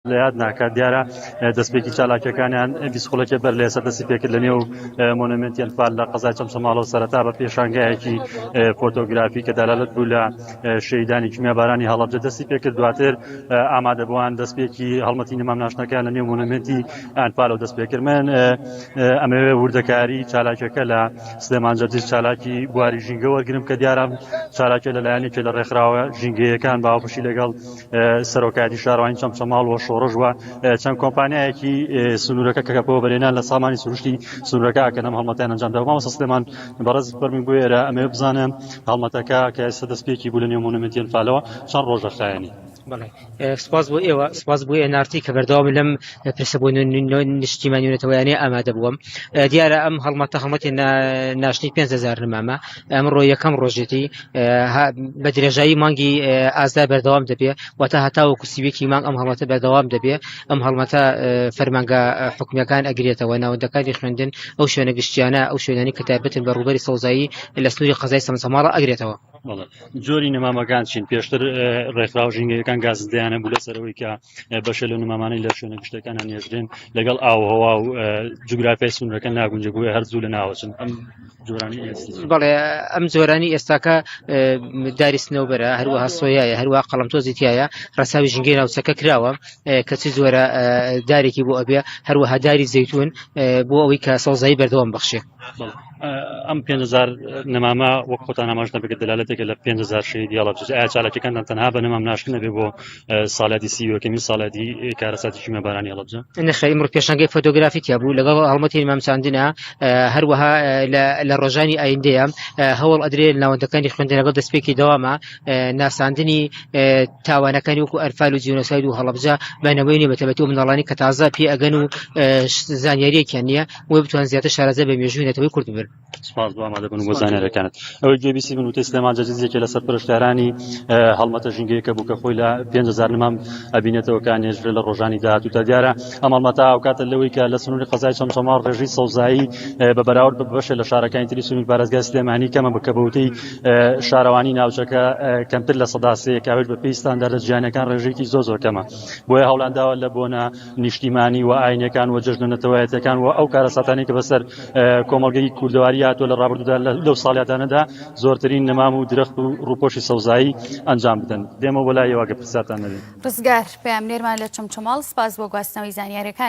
لە یاد ناکات دیارە دەستپێکی چالاکیەکانیان بیست خولەکێ بەر لە ئێستا دەستی پێکرد لە نێو مۆنەمنتی ئەنفال لە قەزای چەمچەماڵەوە سەرەتا بە پێشانگایەکی فۆتۆگرافی کە دەلالەت بوو لە شەیدانی کیمیابارانی هەڵەبجە دەستی پێکرد دواتر ئامادەبووان دەستپێکی هەڵمەتینی مامناشتەکان لە نێو مۆنەمنتی ئەنفالەوە دەست پێکرد من ئەمەوێ وردەکاری چالاکیەکە لە سلێمان جەرجیس چالاکی بواری ژینگە وەرگرم کە دیارە چالاکە لەلایەنێکی لە ڕێکخراوە ژینگەیەکان باوەپشی لەگەڵ سەرۆکایەتی شارەوانی چەمچەماڵ و شۆڕش و چەند کۆمپانیایەکی سنوورەکە کە کەپەوە بەرێنان لە سامانی سروشتی سنوورەکە ئەکەن ئەم هەڵمەتیان ئەنجام دا مامۆستا سلێمان بەڕێز فەرمی بۆ ئێرە ئەمەوێ بزانم هەڵمەتەکە کە ئێستا دەستپێکی بوو لە نێو مۆنومێنتی ئەنفالەوە چەند ڕۆژە خایەنی بەڵێ سپاس بۆ ئێوە سپاس بۆ ئێنارتی کە بەردەوام لەم پرسە بۆ نیشتیمانیونەتەوەیانەیە ئامادە بووم دیارە ئەم هەڵمەتە هەڵمەتی ناشتنی 5هزار نمامە ئەمڕۆ یەکەم ڕۆژێتی بە درێژایی مانگی ئازدا بەردەوام دەبێ و تا هەتاوە کوسیویەکی مانگ ئەم هەڵمەتە بەردەوام دەبێ ئەم هەڵمەتە فەرمانگە حکومیەکان ئەگرێتەوە ناوەندەکانی خوێندن ئەو شوێنە گشتیانە ئەو شوێنانی کە تابەتن بە ڕوبەری سەوزایی لە سنووری قەزای سەمسەماڵە ئەگرێتەوە جۆری نەمامەکان چین پێشتر ڕێکخراو ژینگەکان گازدەیانە بوو لە سەرەوەی کە بەشە لە نمامانەی لە شوێنە گشتەکانە نێژرێن لەگەڵ ئاوهوا و جوگرافی سونرەکە ناگونجە بووە هەرزوو لە ناوچن ئەم بەڵێ ئەم زۆرانی ئێستاکە داری سنەوبەرە هەروەها سۆیایە هەروە قەڵم تۆزی تایە ڕساوی ژنگەی ناوچەکە کراوە کەچی زۆرە دارێکی بۆ ئەبێ هەروەها داری زەیتون بۆ ئەوەی کە سەوزایی بەردەوام بەخشێ ئەم 500 نەمامە وەک خۆتان ئاماژ نەبێت دەلالەتێکە لە 500 شەهید یاڵە ئایا چالاکیەکانتان تەنها بە نەمام ناشکنەبێ بۆ ساڵیادی سی یەکەمین ساڵیادی کارەساتی کیمابارانی هەڵەبجە نەخێری مڕ پێشنگەی فۆتۆگرافی تیا بوو لەگەڵ هەڵمەتی مامچاندنە هەروەها لە ڕۆژانی ئایندەیە هەوڵ ئەدرێ ناوەندەکانی خوێندنەگەڵ دەستپێکی دەوامە ناساندنی تاوانەکانی وکو ئەرفال و جیۆنۆساید و هەڵەبجە بەنەوەی نیە بەتەبەتی و مناڵانی کە تازە پێ ئەگەن و زانیاریەکیان نییە وە بتوان زیاتر شارەزە بە مێژووی نەتەوەی کورد بن سپاس بۆ ئامادەبوون بۆ زانانەکانت ئەوەی گوێ بیسی بن وتە سلێمان جەجزیەکە لە سەر پرشتارانی هەڵمەتە ژینگەیەکە بوو کە خۆی لە پێزار نمام ئەبینێتەوە کە نێژرە لە ڕۆژانی داهاتوو تا دیارە ئەم هەڵمەتا ئەوکاتە لەوەی کە لە سنووری قەزای چەمچەماڵ ڕێژی سەوزایی بە بەراورد بە بەشێ لە شارەکانی تری سنوور پارێزگای سلێمانی کەمە بکە بەوتەی شارەوانی ناوچەکە کەمتر لە سەداسەیەکاوێت بە پێی ستانداردە جیانەکان ڕێژێکی زۆ زۆر کەمە بۆیە هەوڵانداوە لە بۆنە نیشتیمانی و ئاینەکان و جەژنە نەتەوایەتەکان و ئەو کارەساتانی کە بەسەر کۆمەڵگەی کوردەواری هاتووە لە ڕابردوودا لەو ساڵیادانەدا زۆرترین نەمام و درەخت و ڕووپۆشی سەوزایی ئەنجام بدەن دێمەوە بۆ لای ئێوە گەر پرسیارتان نەبێ. ڕزگار پەیامنێرمان لە چەمچەماڵ، سپاس بۆ گواستنەوەی زانیارییەکانت.